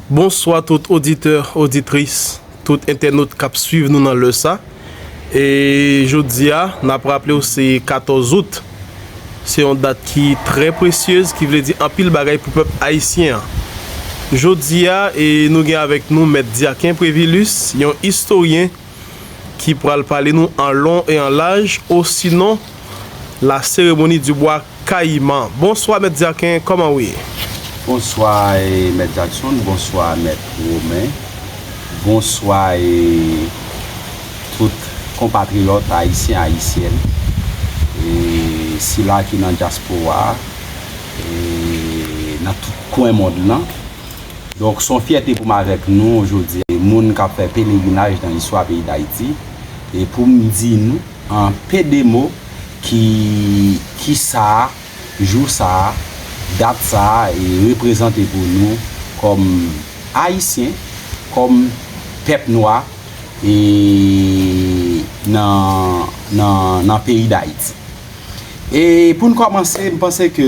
Bonswa tout oditè, oditris, tout entènot kap swiv nou nan lè sa e jodia nap raplew se 14 out se yon dat ki trè presyez ki vle di anpil bagay pou pèp ayisyen an jodia e nou gen avèk nou mèt Diaken Previlus yon istoryen ki pral pale nou an lon e an laj osinon la seremoni di bwa kayiman. Bonswa mèt Dyaken, kòman ou ye? Bonswa e mèt Jakson, bonswa mèt Romen, bonswa e tout konpatriyòt ayisyen ayisyèn e sila ki nan dyaspora e nan tout kwen mond lan. Donk son fyète pou m avèk nou jodi a moun kap fè pelerinaj nan istwa peyi Dayiti e pou m di nou an pe de mo ki ki sa jou sa dat sa e reprezante pou nou kòm Ayisyen kòm pèp nwa e nan nan nan peyi Dayiti. E pou n kòmanse m panse ke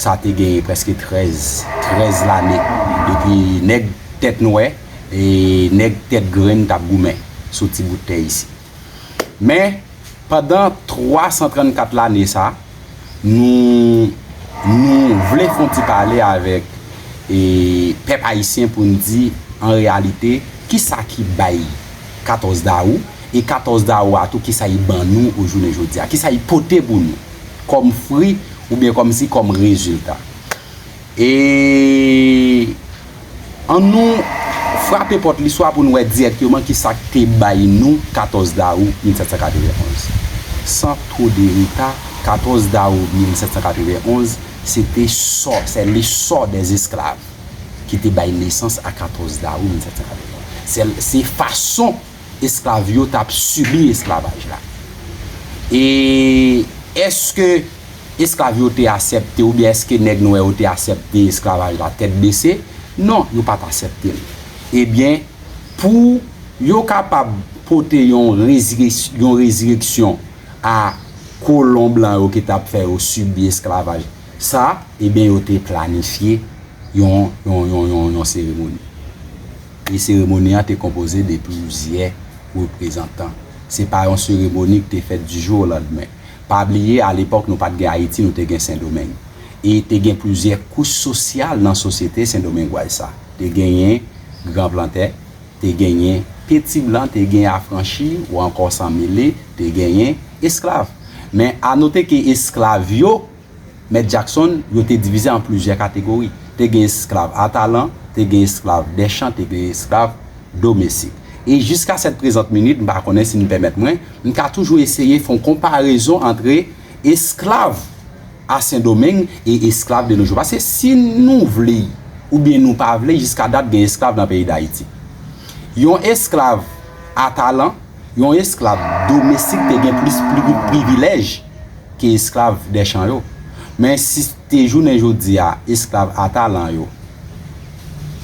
Sa te gen prèske 13, 13 lane depi nèg tèt nwè e nèg tèt grenn t ap goumen sou ti bout tè isit. Men, pandan 334 lane sa, nou nou vle fè yon ti pale avèk pèp ayisyen pou n di an reyalite ki sa ki bay 14 dawou e 14 dawou a tou ki sa li ban nou o jounen jodi a, ki sa li pote pou nou. kòm fri oubyen kòm si kòm rezilta. E an nou frape pòt listwa pou nou wè dirèkteman ki sa k te bay nou 14 dawou 1791. San two de reta, 14 dawou 1791 se te sò, sè le sò dè esklav ki te bay nesans a 14 dawou 1791. Se fason. esklav yo t ap sibi esklavaj la? E èske esklav yo te asèpte oubyen èske nèg nwè yo te asèpte esklavaj la tèt bese? Non, yo pa t asèpte l. Ebyen, pou yo kapab pote yon yon rezireksyon a kolon blan yo ki t ap fè yo sibi esklavaj sa, ebyen yo te planifye yon yon yon yon seremoni. E seremoni an te konpoze de plizyè reprezantan. Se pa yon seremoni ki te fèt di jou o landmen. Pa bliye a lepòk nou pat gen Ayiti nou te gen Sendomeng. E te gen plizyè kouch sosyal nan sosyete sendomengwaz sa. Te genyen gran plantè, te genyen peti blan, te gen afranchi ou ankò san mele, te genyen esklav. Men a note ke esklav yo Mèt Jackson yo te divize an plizyè kategori. Te gen esklav a talan, te gen esklav dè chan, te gen esklav domestik. E jiska sèt prezant minit, m pa konnen si nou pèmèt mwen, m ka toujou eseye fon konparezon antre esklav a Sendomeng e esklav de nojou. Paske si nou vle oubyen nou pa vle, jiska dat gen esklav nan peyi Dayiti. Yon esklav a talan, yon esklav domestik te gen plis privilèj. ke esklav dè chan yo. Men si se te jounen jodi a esklav a talan yo,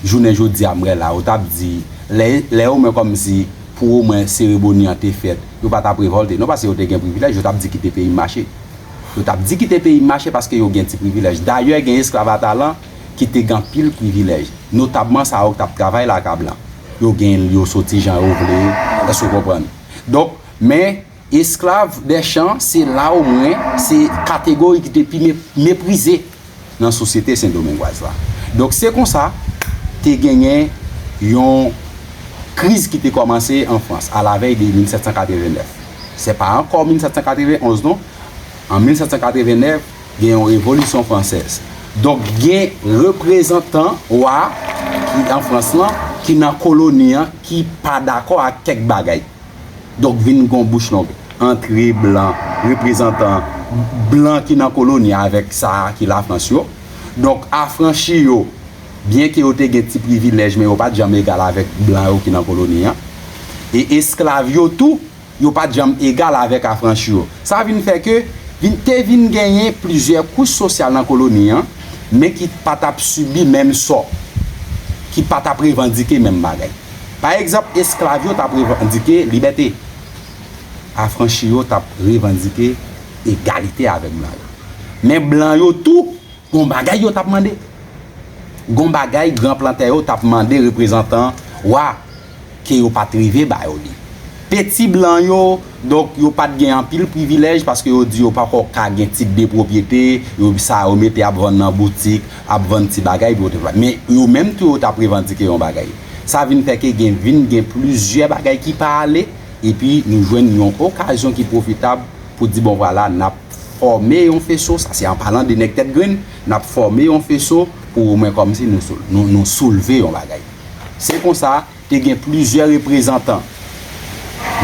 jounen jodi a mrela yo tap di lè lè omwen kòm si pou omwen sereboni an te fèt yo pa tap revòlte non paske yo te gen privilèj yo tap di kite peyi m mache. Yo tap di kite peyi m mache paske yo gen ti privilèj. Dayè gen esklav a talan ki te gen anpil privilèj. Notabman sa yo k tap travay laka blan. Yo gen yo soti jan yo vle, èske w konprann? Donk men Esklav Deschamps se la ou mwen se kategori ki te pi meprize nan sosyete sendomengwaz la. Donk se konsa te genyen yon kriz ki te kòmanse an Frans alavèy de 1789. Se pa ankò 1791 non. An 1789 gen yon revolisyon fransèz. Donk gen reprezantan wa ki an Frans lan ki nan koloni an ki pa dakò ak kèk bagay. Donk vin gon bouch long antre blan reprezantan blan ki nan koloni a avèk sa a ki Lafrans yo. Donk afranchi yo, byenke yo te gen ti privilèj men yo pa t janm egal avèk blan yo ki nan koloni a. E esklav yo tou, yo pa t janm egal avèk afranchi yo. Sa vin fè ke vin te vin genyen plizyè kouch sosyal nan koloni a men ki pa t ap sibi menm sò, ki pa t ap revandike menm bagay. Pa egzanp, esklav yo t ap revandike libète. Afranchi yo t ap revandike egalite avèk blan yo. Men blan yo tou, gon bagay yo t ap mande. Gon bagay gran plantè yo t ap mande reprezantan wa ke yo pa t rive ba yo li. Te ti blan yo, donk yo pat gen anpil privilèj paske yo di yo pako ka gen tit de pwopyete, yo sa yo mete ap vann nan boutik, ap vann ti bagay epi yo te va. Men yo menm tou yo tap revandike yon bagay. Sa vin fè ke gen vin gen plizyè bagay ki pa ale epi nou jwenn yon okazyon ki pwofitab pou di bon vwala nap fòme yon feso, sa se an palan de nèg tèt grenn, nap fòme yon feso pou omwen kòmsi nou nou soulve yon bagay. Se konsa. Te gen plizyè reprezantan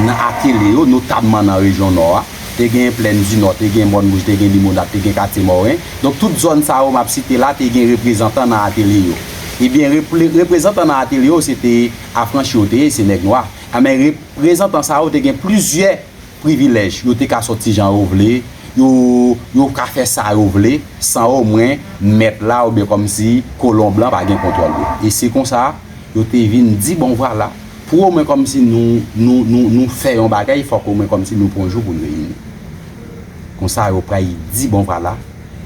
nan atelye yo, notamman nan rejyon Nò a. Te genyen Plèndinò, te gen Mòn Wouj, te gen Limonad, te gen Katye Mòren. Donk, tout zòn sa yo m ap site la te gen reprezantan nan atelye yo. Ebyen, reprezantan nan atelye yo se te afranchi yo te ye, se nèg nwa. Anben, reprezantan sa yo te gen plizyè. privilèj, yo te ka sòti jan yo vle, yo yo ka fè sa yo vle san omwen mèt la oubyen kòmsi kolon blan pa gen kontwòl yo. E se konsa yo te vin di bon vwala, pou omwen kòmsi nou nou nou nou fè yon bagay fòk omwen kòmsi nou pran yon jou pou n reyini. Konsa yo pray di bon vwala,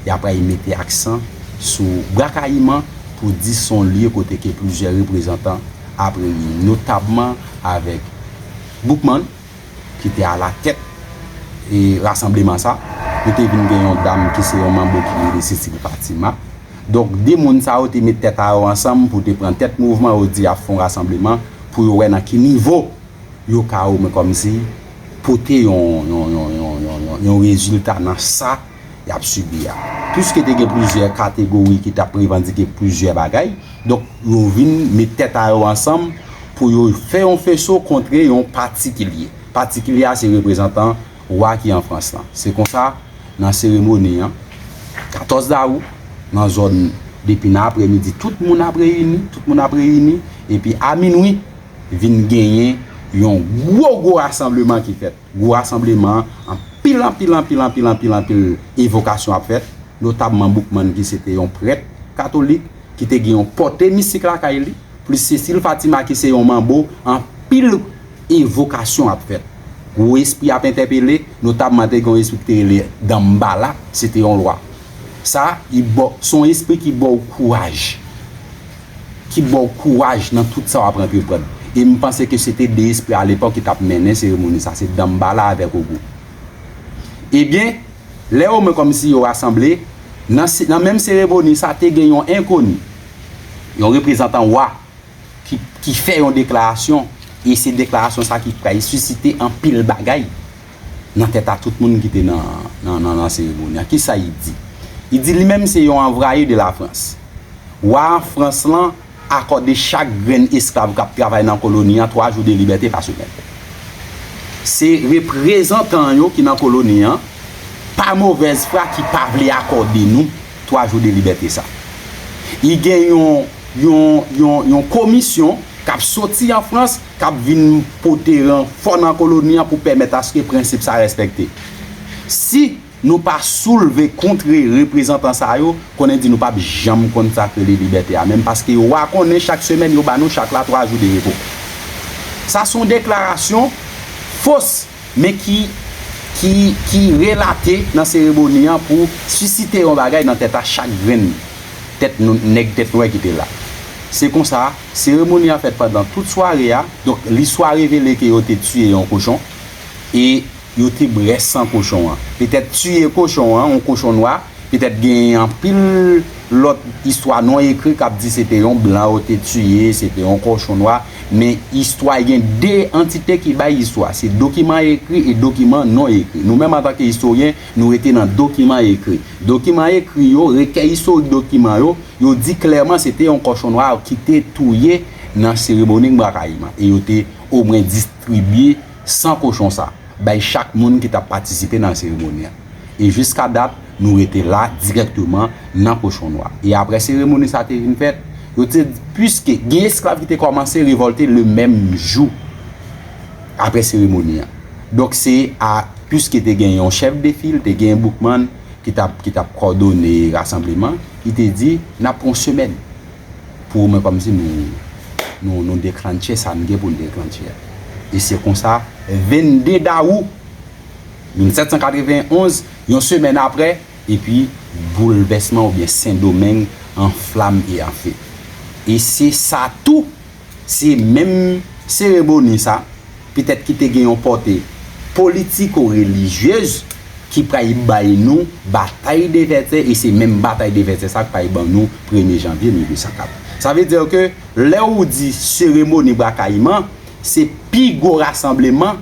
y apray mete aksan sou Bwa Kayiman pou di s on lye kote ke plizyè reprezantan ap reyini, notabman avèk Boukman, ki te alatèt rasanbleman sa, yo te vin gen yon dam ki se yon manbo ki rele Cicely Fatima. Donk, 2 moun sa yo te met tèt a yo ansanm pou te pran tèt mouvman yo di y ap fè yon rasanbleman pou yo wè nan ki nivo yo ka omwen kòmsi pote yon rezilta nan sa y ap sibi a. Piske te gen plizyè kategori ki t ap revandike plizyè bagay, donk yo vin met tèt a yo ansanm pou yo fè yon feso kontre yon patikilye. Patikilye a se reprezantan wa ki an Frans lan. Se konsa, nan seremoni an, 14 dawou, nan zòn depi nan aprèmidi tout moun ap reyini, tout moun ap reyini, epi a minwi vin genyen yon gwo gwo rasanbleman ki fèt. Gwo rasanbleman, anpil anpil anpil anpil anpil anpil evokasyon ap fèt, notabman Boukman ki se te yon prèt katolik, ki te gen yon pòte mistik lakay li, plis Cécile Fatima ki se yon manbo, anpil evokasyon ap fèt. Gwo espri ap entèpele, notabman te gen yon espri ki te rele Danmbala, se te yon lwa. Sa, li ba w, se yon espri ki ba w kouraj. ki baw kouraj nan tout sa wap antreprann e m panse ke se te 2 espri alepòk ki tap mennen seremoni sa se Danmbala avèk Ogou ebyen lè yo mwen kòmsi yo rasanble nan nan menm seremoni sa te gen yon enkoni yon reprezantan wa ki ki fè yon deklarasyon e se deklarasyon sa ki pral sisite anpil bagay. nan tèt a tout moun ki te nan seremoni an. Kisa li di? Li di li menm se yon anvwaye de Lafrans. Wa Frans lan akòde chak grenn esklav k ap travay nan koloni an twa jou de libète pa semèn. Se reprezantan yo ki nan koloni an, pa movèz fwa ki pa vle akòde nou twa jou de libète sa. Li gen yon komisyon k ap soti an Frans, k ap vin pote ranfò nan koloni an pou pèmèt aske prensip sa respekte. Si nou pa soulve kontre reprezantan sa yo, konnen di nou pap janm konsakre li libète a menm paske yo a konnen chak semèn yo ba nou chak la 3 jou de repo. Sa son deklarasyon fos men ki ki ki relate nan seremoni an pou sisite yon bagay nan tèt a chak grenn tèt nèg tèt nwè ki te la. Se konsa. Seremoni a fèt pandan tout sware a, donk listwa revele ke yo te tiye yon kochon e yo te bwè san kochon an. Petèt tiye kochon an, yon kochon nwa, petèt genyen anpil lòt istwa non ekri kap di se te yon blan yo te tiye, se te yon kochon nwa, men istwa gen 2 antite ki bay istwa, se dokiman ekri e dokiman non ekri. Nou menm antanke istoryen, nou rete nan dokiman ekri. Dokiman ekri yo, rekèy istorik dokiman yo, yo di klèman se te yon kòchon nwa ki te touye nan seremoni Ngbra Kayiman e yo te omwen distribye san kochon sa bay chak moun ki t ap patisipe nan seremoni an. E jiska dat nou rete la dirèkteman nan kochon nwa. E aprè seremoni sa te vin fèt, yo te di piske gen esklav ki te kòmanse revòlte le menm jou aprè seremoni an. Donk se a, piske te gen yon chèf de fil, te gen Boukman ki t ap ki t ap kòdone rasanbleman, li te di, n ap pran yon semèn pou omwen kòmsi nou nou nou deklannche sa n gen pou n deklannche a. E se konsa, 22 dawou 1791, yon semèn apre, epi boulvèsman oubyen Sendomeng an flam e an fe. E se sa tou! Se menm seremoni sa, petèt ki te gen yon pòte politiko-relijyez ki pral bay nou batay de Vètyè e se menm batay de Vètyè sa k pral ban nou premye janvye 1804. Sa vle di ke lè ou di seremoni Bwa Kayiman, se pi gwo rasanbleman,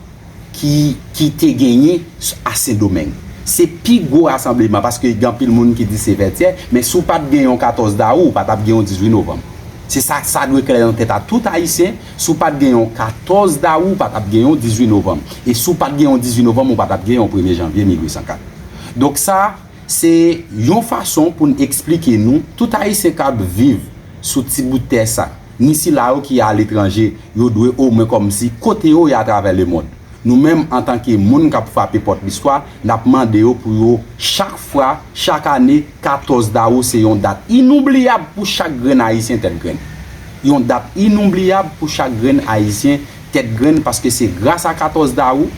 ki ki te genyen a sendomeng se pi gwo rasanbleman paske gen anpil moun ki di se vètyè men si w pat gen yon 14 dawou ou pa tap gen yon 18 novanm se sa sa dwe klè nan tèt a tout ayisyen si w pat gen yon 14 dawou ou pa tap gen yon 18 novanm e si w pat gen yon 18 novanm ou pa tap gen yon premye janvye 1804 donk sa se yon fason pou n esplike nou tout ayisyen kap viv sou ti bout tè sa. ni sila yo ki aletranje, yo dwe omwen kòmsi kote yo ye atravè lemond. Nou menm, antanke moun k ap frape pòt listwa, n ap mande yo pou yo chak fwa, chak ane, 14 dawou se yon dat inoublyab pou chak grenn Ayisyen tèt grenn. Yon dat inoublyab pou chak grenn Ayisyen tèt grenn paske se gras a 14 dawou,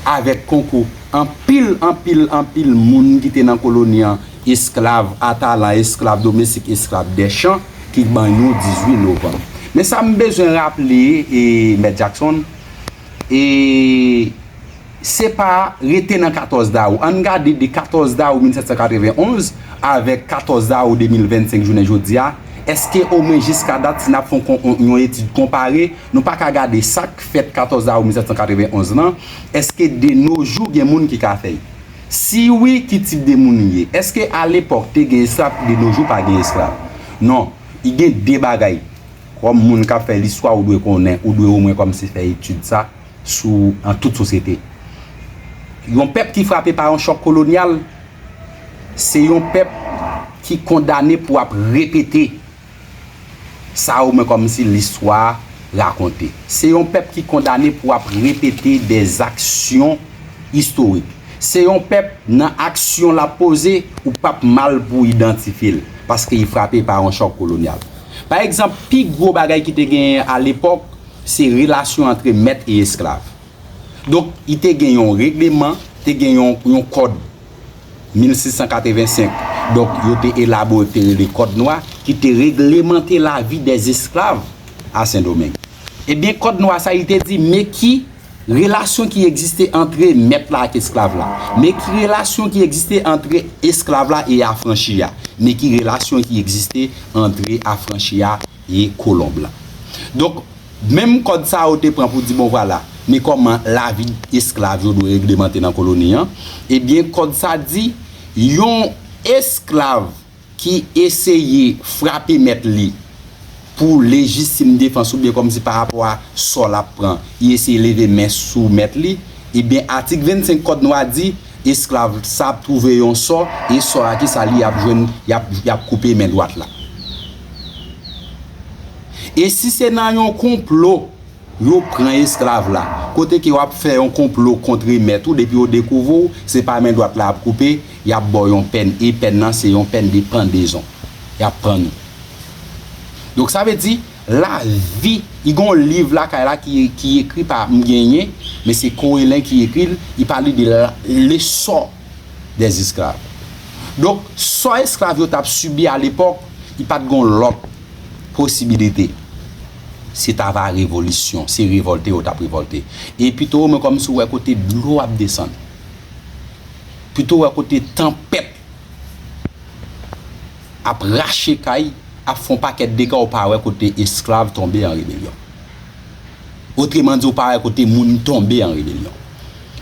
avèk konkou anpil, anpil, anpil moun ki te nan koloni an, Esklav atalan, esklav domestik, esklav dèchan ki ban yon 18 novanm. Men sa m bezwen raple e Mèt Jackson, e se pa rete nan 14 dawou. An n gade de 14 dawou 1791 avèk 14 dawou 2025 jounen jodi a, èske omwen jiska dat si n ap fè yon etid konpare, nou pa ka gade sa k fèt 14 dawou 1791 lan, èske de no jou gen moun ki ka fè l? Si wi, ki tip de moun li ye? Eske alepòk te gen esklav ki de no jou pa gen esklav? Non, i gen de bagay, kòm moun kap fè listwa ou dwe konnen, ou dwe omwen kòmnse fè etid sa, sou an tout sosyete. Yon pèp ki frape pa yon chòk kolonyal, se yon pèp ki kondane pou ap repete. Sa ou mwen kòmsi listwa rakonte. Se yon pèp ki kondane pou ap repete de zaksyon istorik. Se yon pèp nan aksyon l ap poze ou p ap mal pou idantifye l paske li frape pa yon chòk kolonyal. Pa egzanp, pi gwo bagay ki te genyen alepòk se relasyon antre mèt e esklav. Donk, li te gen yon regleman, te gen yon kòd. 1685, donk yo te elabore yo te rele Kòd Nwa ki te reglemante lavi dè esklav a Sendomeng. Ebyen Kòd Nwa sa li te di me ki relasyon ki egziste antre mèt la ak esklav la, me ki relasyon ki egziste antre esklav la e afranchi a, me ki relasyon ki egziste antre afranchi a, ye kolonb lan. Donk, menm kòd sa yo te pran pou di bon vwala, men kòman lavi esklav yo dwe reglemante nan koloni an, ebyen kòd sa di, yon esklav ki eseye frape mèt li pou lejitim defans oubyen kòmsi pa rapò a sò l ap pran, li eseye leve men sou mèt li, ebyen atik 25 kòd nou a di, esklav sa ap twouve yon sò, e sò a kisa li ap jwenn, y ap koupe men dwat la. E si se nan yon konplo yo pran esklav la, kote ke wap fè yon konplo kontre mèt ou depi yo dekouvri w se pa men dwat la yap koupe, yap ba w yon pèn e pèn nan se yon pèn de pandezon yap pann ou. Donk sa vle di lavi, i gen yon liv lakay la ki ekri pa m genyen men se Corélin ki ekri l, i pale de le sò. des esclaves. Donk, sò esklav yo t ap sibi a lepòk, li pa t gen yon lòt posibilite, se ta va revolisyon, se revòlte yo t ap revòlte. E Pito, mwen kòmanse wè kote dlo ap desann. Pito wè kote tanpèt ap rache kay, ap fè yon pakèt dega, ou pa wè kote esklav tonbe an rebelyon. Otremandi, ou pa wè kote moun tonbe an rebelyon.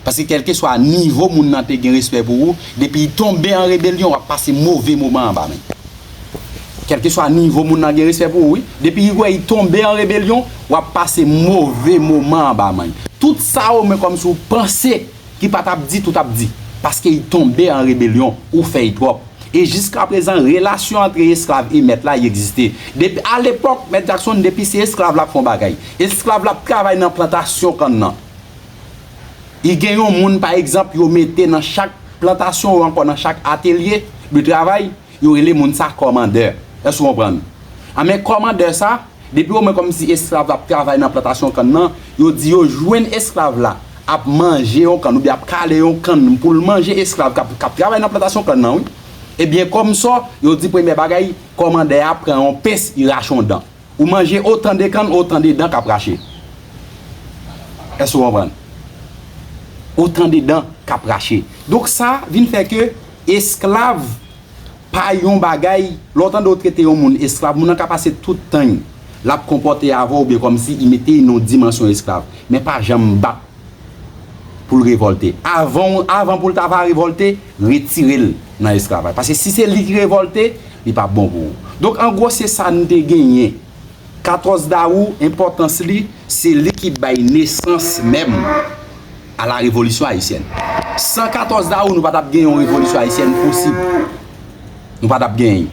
Paske kèlkeswa nivo moun nan te gen respè pou ou, depi li tonbe an rebelyon wap pase move moman anba men. Kèlkeswa nivo moun nan gen respè pou ou wi, depi li wè li tonbe an rebelyon wap pase move moman anba men. Tout sa ou men kòmsi ou panse ki pa tap di tout ap di. Paske li tonbe an rebelyon, ou fè li twòp. E jiskaprezan relasyon antre esklav e mèt la li egziste. Depi a lepòk mèt Jackson depi se esklav lap fè yon bagay. Esklav lap travay nan plantasyon kann nan. I gen yon moun pa egzanp yo mete nan chak plantasyon ou ankò nan chak atelye de travay, yo rele moun sa kòmandè. Èske ou konprann? A men kòmandè sa, depi o mwen kòmsi esklav la ap travay nan plantasyon kann nan, yo di yo jwenn esklav la ap manje yon kann oubyen ap kale yon kann pou l manje esklav k ap travay nan plantasyon kann nan wi. Ebyen kòmsò, yo di premyè bagay, kòmandè a pran yon pens, i rache yon dan. Ou manje otan de kann otan de dan kap rache. Èske ou konprann? Otan de dan kap rache. Donk sa vin fè ke esklav pa yon bagay, lè w tande yo trete yon moun esklav, moun nan ka pase tout tan l ap konpòte avè w byen kòmsi li mete nan yon dimansyon esklav. Men pa janm bat pou l revòlte. Avan avan pou l ta va revòlte, retire l nan esklavaj. Paske si se li ki revòlte, li p ap bon pou ou. Donk an gwo se sa n te genyen. 14 dawou, enpòtans li, se li ki bay nesans menm a la revolisyon ayisyèn. San 14 dawou, nou pa t ap gen yon revolisyon ayisyèn posib. Nou pa t ap genyen.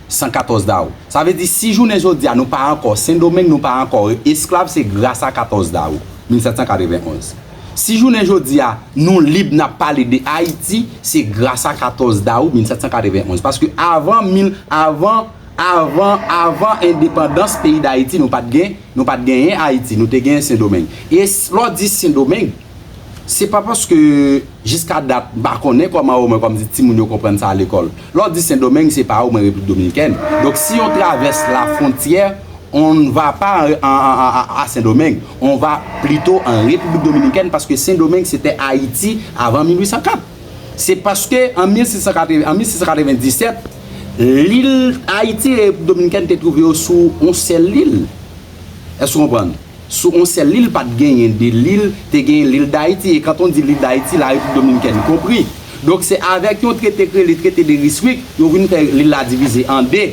114 dawou. Sa vle di si jounen jodi a nou pa ankò Sendomeng nou pa ankò esklav se gras a 14 dawou 1791. Si jounen jodi a nou lib n ap pale de Ayiti se gras a 14 dawou 1791. Paske avan mil avan avan avan endepandans peyi Dayiti nou pa t gen nou pa t genyen Ayiti nou te gen Sendomeng. E lè w di Sendomeng se pa paske jiska dat m pa konnen kòman omwen kòm di timoun yo konprann sa a lekòl. Lè w di sendomeng se pa ou mwen replik dominikèn donk si on travèse la frontyè on n va pa a sendomeng on va plito an repiblik dominikèn paske sendomeng se tè ayiti avan 1804 se paske an 1697 lil ayiti e repiblik dominikèn te twouve yo sou on sèl lil. Èske w konprann? Sou yon sèl lil pat genyen 2 lil, te genyen lil Dayiti e kant on di lil Dayiti la Repiblik Dominikèn konpri. Donk se avèk yon trete k rele trete de Ryswick yo vin fè lil la divize an 2.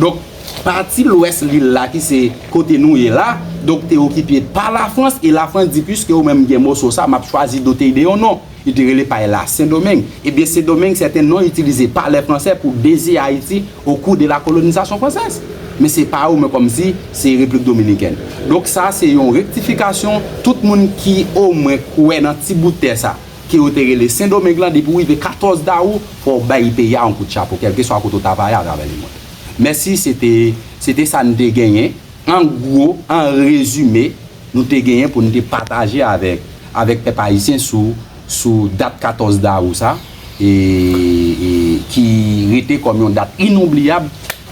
Donk pati lwès lil la ki se kote nou ye la, donk te okipe pa Lafrans e Lafrans di piske ou menm gen moso sa map chwazi dote y de yon non. Yo te rele pay la Sendomeng. Ebyen Sendomeng se te non itilize pa lè Franse pou deziye Ayiti o kou de la kolonizasyon fransèz. Men se pa ou men kòm si se Replik Dominikèn. Donk sa se yon rektifikasyon tout moun ki o mwen kwè nan ti bout tè sa ke yo te rele Sendomeng lan depi ou rive 14 dawou fò ou bay peyi a on kout chapo kèlke swa kote ou ta va ye a travè le mond. Mèsi se te se te sa n te genyen an gwo an rezime nou te genyen pou nou te pataje avèk avèk pèp ayisyen sou sou dat 14 dawou sa e e ki rete kòm yon dat inonbliyab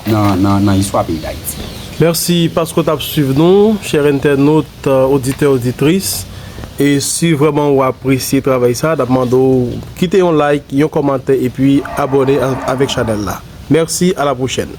nan nan nan istwa peyi Dayiti. Mèsi paske w t ap swiv nou, chè entènot, oditè, oditris. E si vrèman ou apresye travay sa, n ap mande w kite yon like, yon kòmantè epi abòne avèk chanèl la. Mèsi, a la pwochèn!